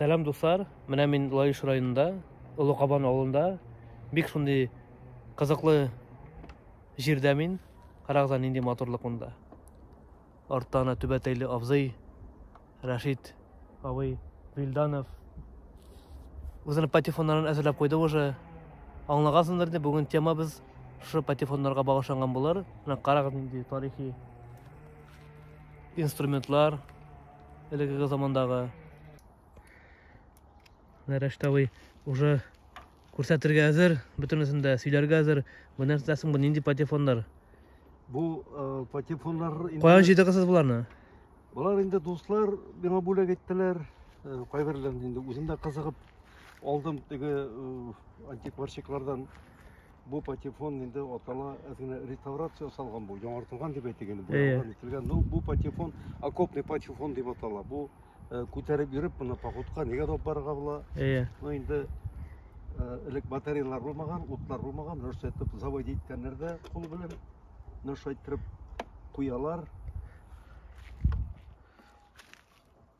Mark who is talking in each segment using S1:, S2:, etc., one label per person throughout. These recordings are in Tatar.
S1: Сәлам дуслар, менә мин Лаеш районында, Олы Кабан авылында, бик шундый кызыклы җирдә мин. Карагыз, нинди матурлык монда. Артта ана түбәтәйле абзый, Рашид абый Вилданов. Үзенең патефоннарын әзерләп куйды уже. Аңлагансыңдыр дип, бүген темабыз шушы патефоннарга багышланган булыр. Менә карагыз, нинди тарихи инструментлар, Элегеге замандагы. Нәрәштәвый уже күрсәтергә әзер, бөтенесен дә сөйләргә әзер. Бу нәрсә соң бу нинди патефоннар? Бу
S2: э, патефоннар инде Каян җыйдыгыз
S1: буларны? Болар инде
S2: дуслар миңа бүләк иттеләр. Э, Кайберләрен инде үзем дә кызыгып алдым теге э, антикварщиклардан Бу патефон инде атала әз генә реставрация ясалган бу, яңартылган дип әйтик инде, буялган ителгән. Ну, бу патефон, окопный патефон дип атала. Бу э, күтәреп йөреп моны походка нигә алып барырга була? Әйе. Ну, инде э, элек батареялар булмаган, утлар булмаган, нәрсә итеп завод иткәннәрдә кул белән нәрсә иттереп куялар.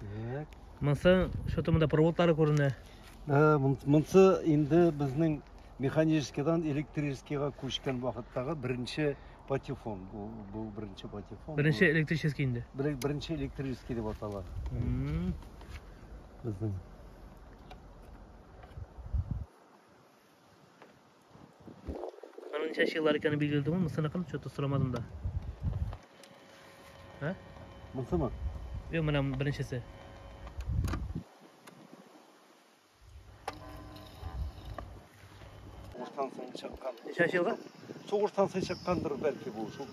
S1: Так. Монсы что-то монда проводлары күренә. Ә, монсы
S2: инде безнең механическийдан электрическийга күчкән вакыттагы беренче патефон. Бу, бу беренче патефон. Беренче электрический инде.
S1: Беренче электрический
S2: дип атала. Безнең.
S1: Аның ничә еллар икәнен билгеле түгел, мусыныкын что-то сорамадым да. Ә? Мусымы? Юк, менә беренчесе.
S2: Сугыштан соң
S1: чыккан. Ничә елга? Сугыштан соң
S2: чыккандыр бәлки бу. Шул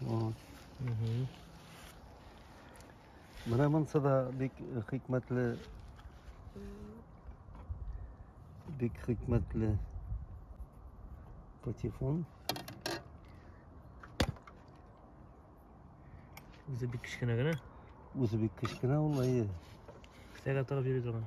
S2: Вот. Угу. Менә монсы да бик хикмәтле. Бик хикмәтле патефон.
S1: Үзе бик кечкенә генә. Үзе бик кечкенә
S2: ул, әйе. Кесәгә
S1: тыгып йөри торган.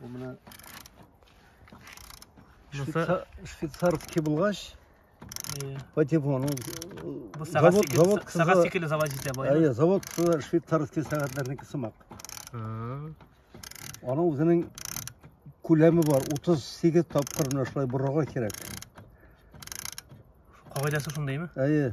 S2: Бу менә швейцар, швейцар кебылгач, по типу, ну, Бу сага завод, завод
S1: кызы, сага сикеле завод җитә бай. Әйе, завод кызы швейцарский
S2: сәгатьләрнеке сымак. Аның үзенең күләме бар, 38 тапкыр менә шулай борырга кирәк.
S1: Кагыйдәсе шундыймы? Әйе.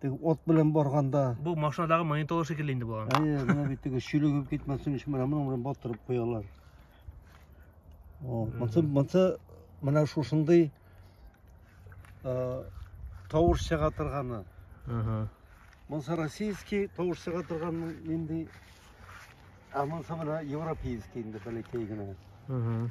S2: Теге от белән барганда. Бу машинадагы монитор
S1: шикелле
S2: инде
S1: булган.
S2: Әйе, менә
S1: бит
S2: теге чилегеп
S1: китмәсен
S2: өчен менә моның
S1: белән
S2: батырып
S1: куялар.
S2: Вот, монсы монсы менә шушындый э, тавыш чыга торганы. Ага. Монсы российский тавыш чыга торган инде. Ә монсы менә европейский инде бәләкәй генә. Ага.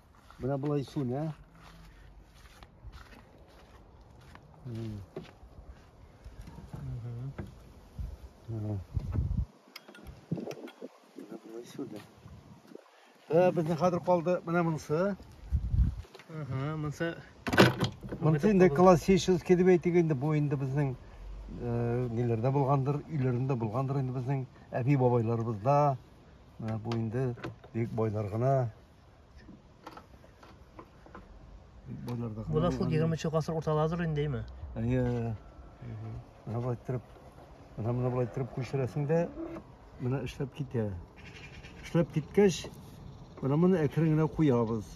S2: Менә болай сүнә. Безнең хәзер калды менә монысы. Ага, монысы Монысы инде классический дип әйтик инде, бу инде безнең э, ниләрдә булгандыр, өйләрендә булгандыр инде безнең әби бабайларыбызда. Менә бу инде бик байлар гына
S1: Боларда Бу да шул 20 нче гасыр урталарыдыр инде, әйме? Әйе.
S2: Менә болай иттереп, менә моны болай иттереп күчерәсең дә, менә эшләп китә. Эшләп киткәч, менә моны әкрен генә куябыз.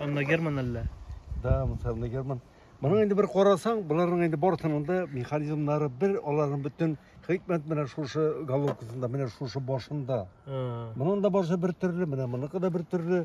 S1: Анна Герман әллә? Да,
S2: Анна Герман. Моның инде бер карасаң, боларның инде барысының да механизмнары бер, аларның бөтен хикмәт менә шушы головкасында, менә шушы башында. Моның да башы бер төрле, менә моныкы да бер төрле.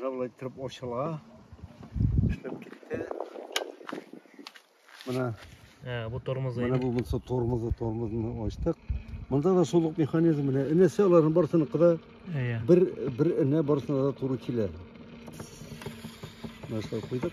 S2: Равлай троп очыла. Эшләп китте. Менә Ә, бу тормозы.
S1: Менә бу булса тормозы,
S2: тормозны ачтык. Монда да сулык механизм менә. Энесе аларның барсына кыда. Әйе. Бер бер энә барсына да туры килә. Нәрсә куйдык?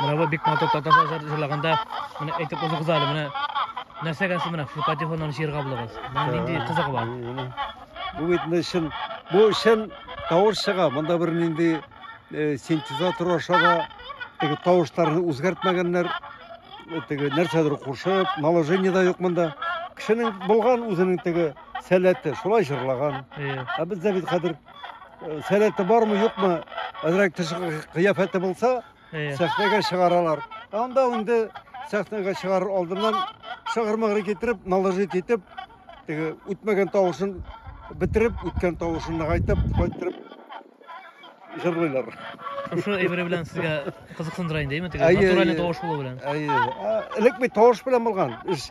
S1: Менә бу бик матур татарча җыр җырлаганда, менә әйтеп узыгыз әле, менә нәрсәгә сез менә шул патефоннан җырга булыгыз? Менә нинди кызыгы бар? Бу бит
S2: менә чын, бу чын тавыш чыга. Монда бер нинди э, синтезатор аша да теге тавышларны үзгәртмәгәннәр. Э, Теге нәрсәдер кушып, наложение да юк монда. Кешенең булган үзенең теге сәләте, шулай җырлаган. Э, Ә бездә бит хәзер сәләте бармы юкмы әзрәк тышкы кыяфәте булса сәхнәгә чыгаралар анда инде сәхнәгә чыгарыр алдыннан шыгырмыгыр китереп наложить итеп теге үтмәгән тавышын бетереп үткән тавышын нагайтып кайтырып җырлыйлар шушы
S1: әйбере белән сезгә кызыксындыра инде әйме теге натуральный тавыш булу белән әйе элек
S2: бит тавыш белән булган эш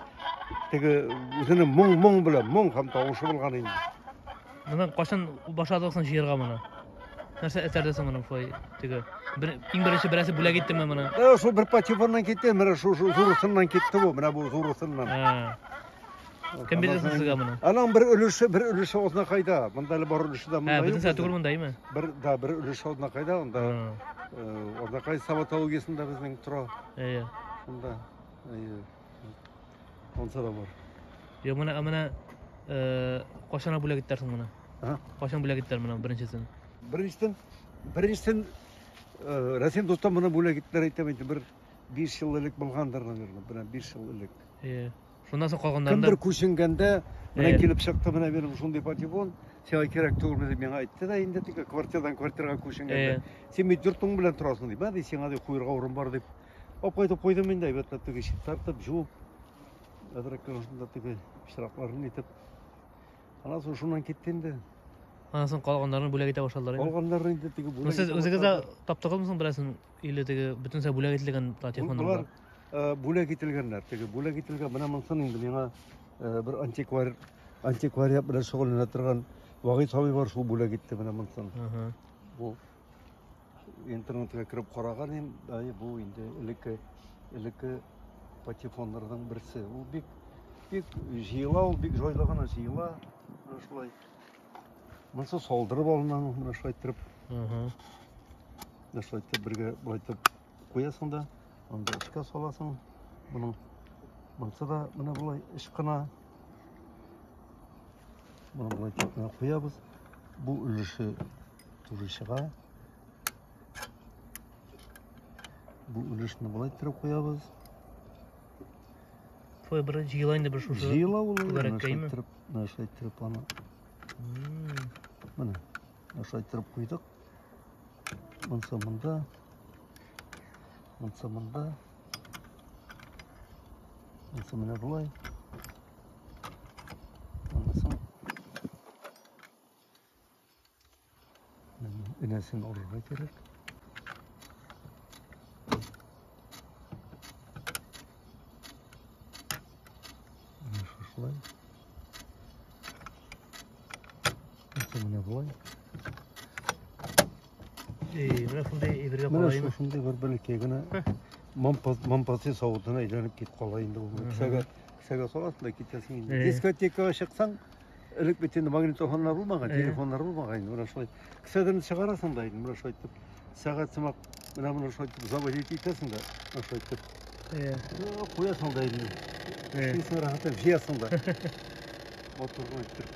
S2: теге үзенең моң моң белән моң һәм тавышы булган инде Моны
S1: кашын башладыгыз соң җыерга моны? Нәрсә этәрде соң моны фой теге? Бер иң беренче берәсе бүләк иттеме моны? Ә шул бер патефоннан
S2: китте, менә шул шул зурысыннан китте бу, менә бу зурысыннан.
S1: Кем бирде соң сезгә моны? Аның бер өлеше, бер
S2: өлеше озна кайда? Монда әле бар өлеше дә монда. Ә, бөтен сәт түгел монда, име?
S1: Бер, да, бер өлеше
S2: озна кайда, анда. Озна кай саватологиясендә безнең тора. Әйе. Шунда. Әйе. Онса да бар. Йо, менә, менә, э,
S1: кашана бүләк иттәрсең менә. Ага. Кашан бүләк иттәр менә беренчесен.
S2: Беренчесен,
S1: беренчесен
S2: э, Рәсим дуста моны бүләк иттеләр әйтәм инде бер 5 ел элек булгандыр, наверное, бер 5 ел элек. Э, шуннан соң
S1: калганнарында. Кемдер күченгәндә
S2: менә Э. килеп чыкты, менә минем шундый патефон, сиңа кирәк түгелме дип миңа әйтте дә инде тик квартирадан квартирага күченгәндә. Э. Син бит йортың белән торасың дип, ә ди сиңа ди куерга урын бар дип. Алып кайтып куйдым инде, әйбәтләп теге ишек тартып, жуып, әзрәк кенә теге пычракларын итеп. Аннан соң шуннан китте инде. Аннан соң
S1: калганнарын бүләк итә башладылар инде. Калганнарын инде теге бүләк.
S2: Сез үзегез дә
S1: таптыгызмы соң берәрсен или теге бөтенсә бүләк ителгән телефоннар? Булар э, бүләк
S2: ителгәннәр. Теге бүләк ителгән менә монсын инде миңа э, бер антиквар антиквариат белән шөгыльләнә торган Вагыйд абый бар, шул бүләк итте менә монсын. Бу Интернетка кереп караган ем, әй бу инде элекке элекке патефоннарның берсе. Ул бик бик җыела, ул бик җайлы гына җыела. Менә шулай. Монысы салдырып алынган, менә шулай итеп. Угу. Менә шулай итеп бергә былай итеп куясың да, анда эшкә саласың. Моның монысы да менә болай ышкына. Моны болай итеп куябыз. Бу өлеше Туры чыга. Бу өлешне болай иттереп куябыз.
S1: Твой брат җыела инде бер шушы. Җыела ул.
S2: Нәрсә
S1: иттереп аны.
S2: Менә. Нәрсә иттереп куйдык. Монса монда. Монса монда. Монса менә болай. Энәсен алырга кирәк. Менә шушылай. Менә болай.
S1: Менә шундый әйбергә кала инде. Менә шушындый бер
S2: бәләкәй
S1: генә
S2: мампасы савытына әйләнеп китеп кала инде ул. Кесәгә кесәгә саласың да китәсең инде. Дискотекага чыксаң, Элек бит инде магнитофоннар булмаган, Әйе. телефоннар булмаган инде. Менә шулай. Кесәдән чыгарасың да инде, менә шулай итеп. Сәгать сымак, менә менә шулай итеп заводить итәсең да, менә шулай итеп. Әйе. О, Куясың да инде. Әйе. Эшлисең рәхәтләнеп, җыясың да. Моторны итеп.